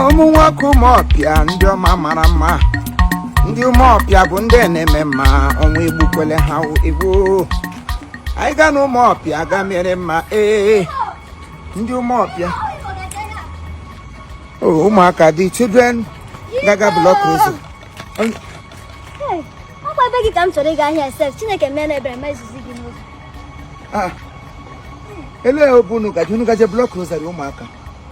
ụmụ nwoke ụmụọpịa ndị ọma mara mma ndị ụmụọpịa bụ ndị na-eme mma ọnwụ egbukwele ha egbu anyị gaa na ụmụọpịa ga mere mma ee ndị ụmụọpịa ụmụaka dị children gaga block road ọkwa ebe gị ka m chọrọ ịga ahịa sef chineke mee na ebere mezizi gị n'oge ah, elee obu unu gaje unu gaje block road ụmụaka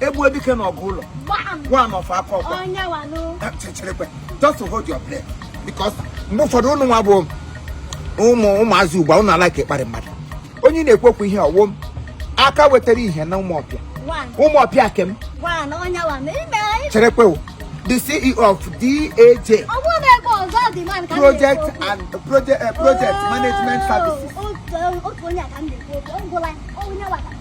egbuo dike na ọgụ ụlọ one of akọkwa cherekwe just hold your breath because mgbe ụfọdụ ụnụ nwa bụ ụmụ ụmụazị ugbu a ụnụ a-like ịkparị mmadụ onye na-ekwu okwu ihe ọwụm aka wetara ihe na ụmụọpịa ụmụọpịa kem cherekwe the CEO of DAJ project and project, uh, project oh, management services. Oh, oh,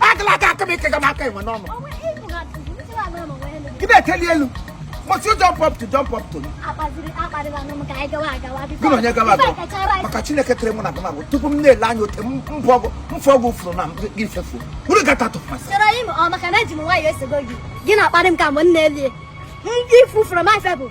agala aka aka m ike ga m aka enwe n'ọnụ gị na-eteli elu must you jump up to jump up to gị na onye gawa agawa maka chineke kere mụ na gị na bụ tupu m na-ele anya ote mfọgụ mfọgụ furu na gị fefu uru gata tụfasị gị na-akparị m ka mgbe m na-elie ndị ifufuru m afebụ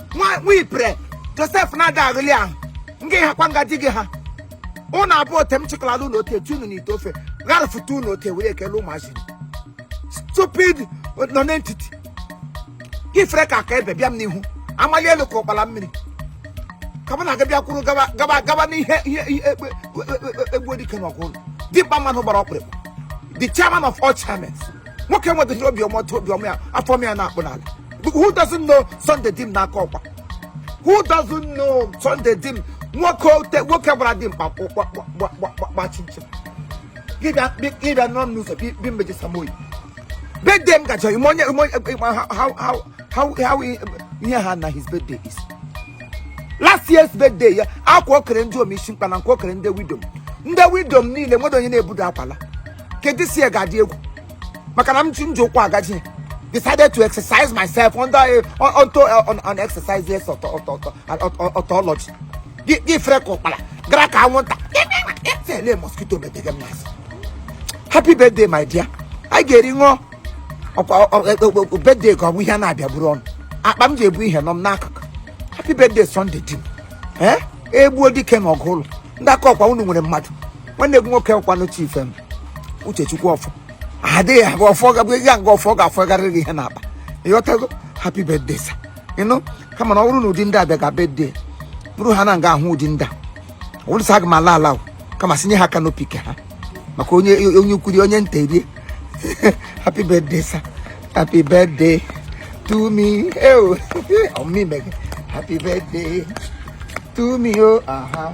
nwa nwa ipre josef na-ada aghụli ahụ nga ịhakwa nga di gị ha ụnụ abụọ ote m chịkọlala unu ote tụ unu n'ite ofe gharafụta unu ote were ekele ụmụazị stupid nonentity gị fere ka aka ebe bịa m n'ihu amali elu ka ụkpala mmiri ka mụ na aga bịa kwuru gaba gaba gaba n'ihe ihe ihe egbe egbuo dike na ọgụ ụlọ dimkpa mmanụ gbara ọkpụrụkpụ the chairman of all chairmen nwoke nwedịrị obiọma otu obiọma ya afọ ọma ya na-akpụ n'ala who doesn't know Sunday dim na akọkwa who doesn't know Sunday dim nwoke ote nwoke gbara dimkpa gba chinchin gị bịa nọ m n'ụzọ bi mmeji samoyi bedem gacha ime onye how ihe ha na his birthday his last year's birthday ya akwa o kere ndịom ishi mkpe na akwa o kere ndị widow ndị widow niile nwere onye na-ebudo akwala nke this year ga-adị egwu maka na m ji m ji ụkwụ agaje decided to exercise myself under a onto an, an exercise yes tautology gị fere ka ụkpara gara ka anwụnta tele mosquito metege m n'azụ happy birthday my dear anyị ga-eri ṅụọ ọkwa birthday ka ọ bụ ihe a na-abịa buru ọnụ akpa m ji ebu ihe nọ m n'akụkụ happy birthday sunday dim ee egbuo dike na ọgụ ụlọ ndị akọkwa unu nwere mmadụ nwanne gị nwoke kwanụ chief m uchechukwu ọfọ adịghị aga ọfọ gabụ ya nga ọfọ ga-afọgarịrị gị ihe n'akpa ị ghọtago happy birthday sir ị nụ kama na ọ bụrụ na ụdị ndị a bịa ga birthday bụrụ ha na nga ahụ ụdị ndị a ọ bụrụ sa aga m ala ala o, kama sinye ha aka n'opi ke ha maka onye onye ukwu rie onye nta erie happy birthday sir happy birthday to me eo ọmụmụ ime gị happy birthday to me o aha